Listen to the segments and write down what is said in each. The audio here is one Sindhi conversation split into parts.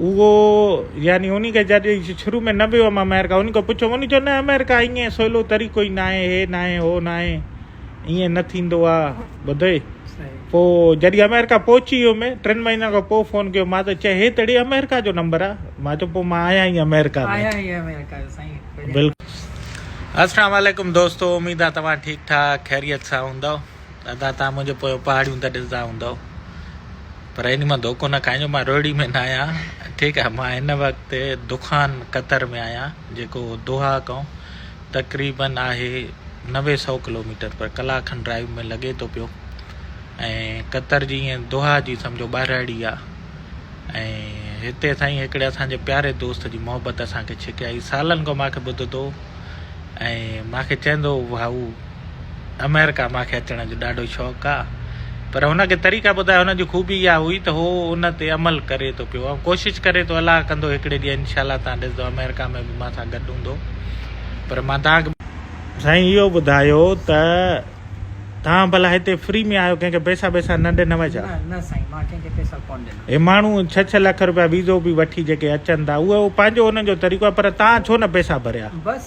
اهو يعني انهي کي جڏهن شروع ۾ نه به هيم آمريڪا انهي کان پڇيو انهي چيو نه آمريڪا ايئن سولو طريقو ئي ناهي هي ناهي هو ناهي ايئن نه ٿيندو آ ٻڌئي پو جڏهن آمريڪا پهچي ويو مي ٽن مهينن کان پو فون ڪيو مان ته چئي هي ته اڙي آمريڪا جو نمبر آ مان چيو پو مان آهيان ئي آمريڪا ۾ آهيان ئي آمريڪا جو سائين بلڪل السلام عليڪم دوستو اميد آ توهان ٺيڪ ٺاڪ خيريت سان هوندؤ دادا توهان منهنجو پويو پهاڙيون ته ڏسندا هوندؤ پر ان مان ڌوڪو نه کائجو مان روهڙي ۾ نه آهيان ٺيڪ آهي مان هن وقت دخان قطر ۾ آهيان جيڪو دوحا کان تقريباً آهي نوي سؤ ڪلوميٽر پر ڪلاڪ کن ڊرائيو ۾ لڳي ٿو پيو ۽ قطر جي ائين دوحا جي سمجهو ٻاهراڙي آهي ۽ هتي سائين هڪڙي اسان جي پياري دوست جي محبت اسان کي ڇڪي آئي سالن کان ماکي ٻڌدو ۽ ماکي چئندو هو ڀائو آمريڪا مان کي اچڻ جو ڏاڍو شوق آ پر هن کي طريقا ٻڌايا هن جي خوبي اها هئي ته هو ان تي عمل ڪري ٿو پيو ۽ ڪوشش ڪري ٿو الله ڪندو هڪڙي ڏينهن انشاء الله تان ڏسدو آمريڪا ۾ به مان سان گڏ هوندو پر مان تان سائين اهو ٻڌايو ته تان ڀلا هتي فري ۾ آيو ڪنهن کي پيسا بيسا نه ڏنوء ڇا نه نه سائين مان ڪنهن کي پيسا ڪون ڏنا هي ماڻهو ڇهه ڇهه لک روپيا ويزو به وٺي جيڪي اچن ٿا اهو پنهنجو هنن جو طريقو آ پر تان ڇو نه پيسا ڀريا.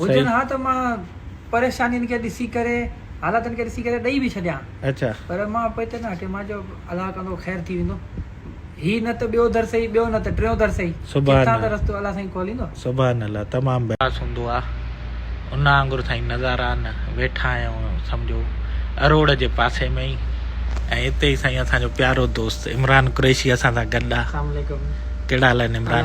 هجن ها ته مان پريشانين کي ڏسي ڪري حالاتن کي ڏسي ڪري ڏئي به ڇڏيان ها پر مان پوء ته نه هٽي مان چيو الله ڪندو خير ٿي ويندو هي نه ته ٻيو در سهي ٻيو نه ته ٽيون در سهي ڪٿان ته رستو الله سائين کوليندو. سبحان الله تمام بهترين. خاص هوندو آ ان آنگر سائين نظارا نه ويٺا آهيون سمجهو اروڙ جي پاسي ۾ ئي ۽ اتي ئي سائين اسان جو پيارو دوست عمران قريشي اسان سان گڏ آ ڪهڙا حال آهن عمران.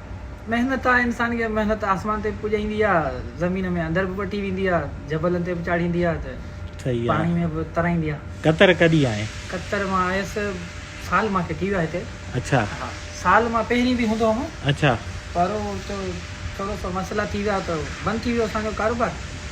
محنت آ انسان کي محنت آسمان تي به پڄائيندي آ زمين ۾ اندر به وٺي ويندي آ جبلن تي به چاڙهيندي آ ته پاڻي ۾ به ترائيندي آ. قطر ڪڏھن آئي؟ قطر مان آيس سال مان کي ٿي ويو آ هتي. اڇا. ها سال مان پهرين به هوندو هوم. اڇا. پر هو ٿورو سو مسئلا ٿي ويا ته بند ٿي ويو اسان جو ڪاروبار.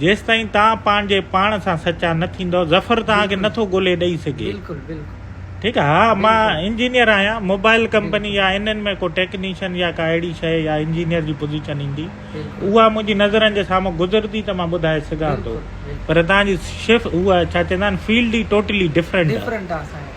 جيستائين توهان پنهنجي پاڻ سان سچا نه ٿيندؤ ظفر توهان کي نٿو ڳولي ڏئي سگهي. بلڪل بلڪل. ٺيڪ آهي ها مان انجنيئر آهيان موبائل ڪمپني يا انهن ۾ ڪو ٽيڪنيشن يا ڪا اهڙي شيء يا انجنيئر جي پوزيشن ايندي اها منهنجي نظرن جي سامهون گذرندي ته مان ٻڌائي سگهان ٿو پر توهان جي شف اها ڇا چوندا آهن فيلڊ ئي ٽوٽلي ڊفرنٽ آهي.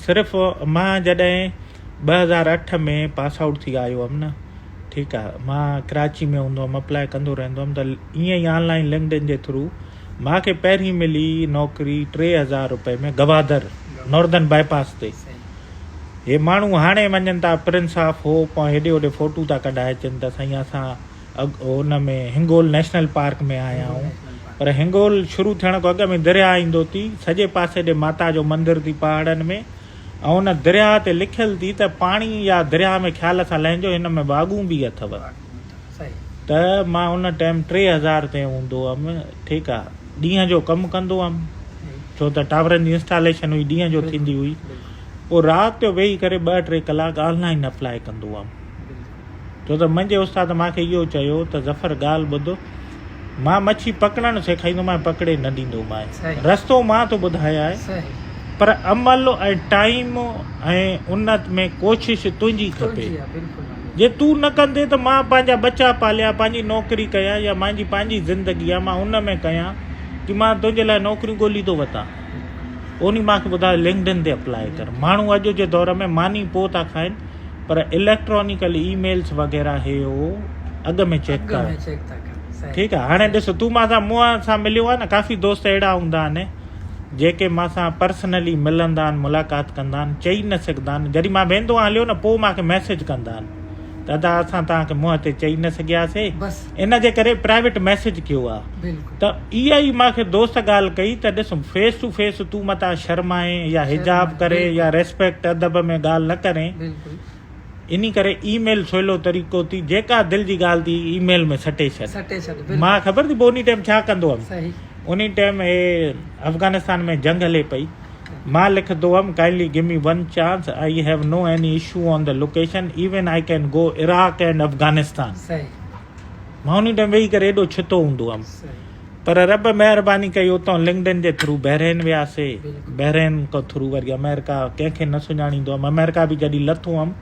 صرف مان جڏهن ٻه هزار اٺ ۾ پاس آئوٽ ٿي آيو هئم نه ٺيڪ آ مان ڪراچي ۾ هوندو هئم اپلاء ڪندو رهندو هئم ته ائين ئي آن لائين لنڪڊن جي ٿرو مان کي پهرين ملي نوڪري ٽي هزار روپئي ۾ گوادر نوردن باء پاس تي هي ماڻهو هاڻي وڃن ٿا پرنس آف هوپ ۽ هيڏي هوڏي فوٽو ٿا ڪڍائي اچن ته سائين اسان ان ۾ هنگول نيشنل پارڪ ۾ آيا آهيون پر هنگول شروع ٿيڻ کان اڳ ۾ درياء ايندو ٿي سڄي پاسي ڏي ماتا جو مندر ٿي پهاڙن ۾ ۽ ان درياء تي لکيل ٿي ته پاڻي يا درياء ۾ خيال سان لهنجو هن ۾ واڳون به اٿو ته مان ان ٽائيم ٽي هزار تي هوندو هم ٺيڪ آ ڏينهن جو ڪم ڪندو هم ڇو ته ٽاورن جي انسٽاليشن هئي ڏينهن جو ٿيندي هئي پوء رات جو ويهي ڪري ٻه ٽي ڪلاڪ آنلائن اپلائي ڪندو هم ڇو ته منهنجي استاد مان کي اهو چيو ته ظفر ڳالهه ٻڌ مان مڇي پڪڙڻ سيکائيندومانء پڪڙي نه ڏيندومانء رستو مان ٿو ٻڌايانء پر عمل ۽ ٽائيم ۽ ان ۾ ڪوشش تنهنجي کپي جي تون نه ڪندي ته مان پنهنجا ٻچا پاليان پنهنجي نوڪري ڪيان يا منهنجي پنهنجي زندگي آ مان ان ۾ ڪيان جي مان تنهنجي لاء نوڪريون ڳولي ٿو وتان انهي مان کي ٻڌايو لنڪڊن تي اپلائي ڪر ماڻهو اڄ جي دور ۾ ماني پوء ٿا کائن پر اليڪٽرانيڪل اي ميلس وغيره هي هو اڳ ۾ چيڪ اڳ ۾ چيڪ ٿا ڪن صحيح ٺيڪ آهي هاڻي ڏس تون مان سان مون سان مليو آهي نه ڪافي دوست اهڙا هوندا آهن جيڪي مان سان پرسنلي ملندا آهن ملاقات ڪندا آهن چئي نه سگهندا آهن جڏهن مان ويندو آهيان هليو نه پوء مونکي ميسج ڪندا آهن ته ادا اسان توهان کي منهن تي چئي نه سگهياسي بس ان جي ڪري پرائيويٽ ميسيج ڪيو آ ته اها ئي مان کي دوست ڳالهه ڪئي ته ڏس فيس ٽو فيس تون متان شرمائين يا حجاب ڪري يا ريسپيڪٽ ادب ۾ ڳالهه نه ڪرين انهي ڪري اي ميل سولو طريقو ٿي جيڪا دل جي ڳالهه ٿي اي ميل ۾ سٽي ڇڏ مان خبر ٿي پوي انهي ٽائيم ڇا ڪندو هيم انهي ٽائيم هي افغانستان ۾ جنگ هلي پئي مان لکندو هئم Kindly give me one chance I have no any issue on the location even I can go Iraq and Afghanistan مان انهي ٽائيم ويهي ڪري ايڏو ڇتو هوندو هئم پر رب مهرباني ڪئي اتان لنڪڊن جي ٿرو بحرين وياسي بحرين کان ٿرو وري آمريڪا ڪنهن کي نه سڃاڻيندو هئم آمريڪا به جڏهن لٿو هئم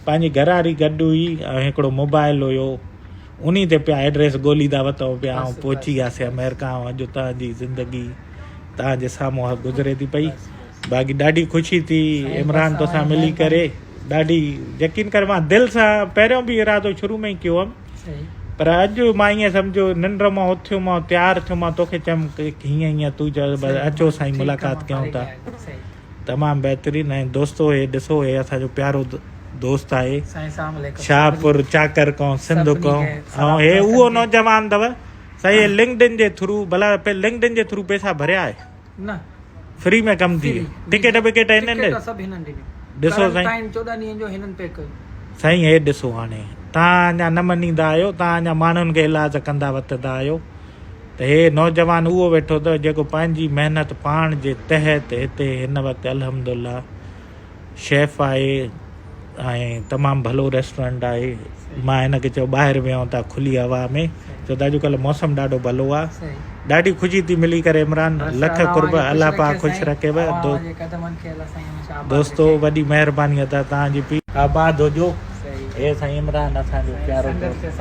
پنهنجي گهر واري گڏ هئي ۽ هڪڙو موبائل هيو انهي تي پيا ايڊريس ڳوليندا وتو پيا آئون پهچي وياسي آمريڪا ۽ اڄ توهان جي زندگي توهان جي سامهون گذري ٿي پئي باقي ڏاڍي خوشي ٿي عمران توسان ملي ڪري ڏاڍي يقين ڪر مان دل سان پهريون به ارادو شروع ۾ ئي ڪيو هم پر اڄ مان ائين سمجهو ننڊ مان اٿيو مان تيار ٿيو مان توکي چيم هيئن هيئن تو چيو اچو سائين ملاقات ڪيون ٿا تمام بهترين ۽ دوستو هي ڏسو هي اسان جو پيارو دوست آهي شاهپور چاڪر قوم سنڌ قوم ۽ هي اهو نوجوان اٿو سائين هي لنڪڊن جي ٿرو بلا لنڪڊن جي ٿرو پيسا ڀريا آهي نه فري ۾ ڪم ٿي ٽڪيٽ بڪيٽ هن ڏي سڀ هن ڏي ڏسو سائين 14 ڏينهن جو هنن پيڪ ڪيو سائين هي ڏسو هاڻي تان اڃا نه مڃيندا آهيو تان اڃا ماڻهن کي علاج ڪندا وتندا آهيو ته هي نوجوان اهو ويٺو اٿئو جيڪو پنهنجي محنت پاڻ جي تحت هتي هن وقت الحمد الله شيف آهي ۽ تمام ڀلو ريسٽورنٽ آهي مان هن کي چيو ٻاهر ويهون ٿا کلي هوا ۾ ڇو ته اڄڪلهه موسم ڏاڍو ڀلو آهي ڏاڍي خوشي ٿي ملي ڪري عمران لک قرب الله پاڪ خوش رکيو دوستو وڏي مهرباني ادا توهان جي آباد هجو اي سائين عمران اسان جو پيارو دوست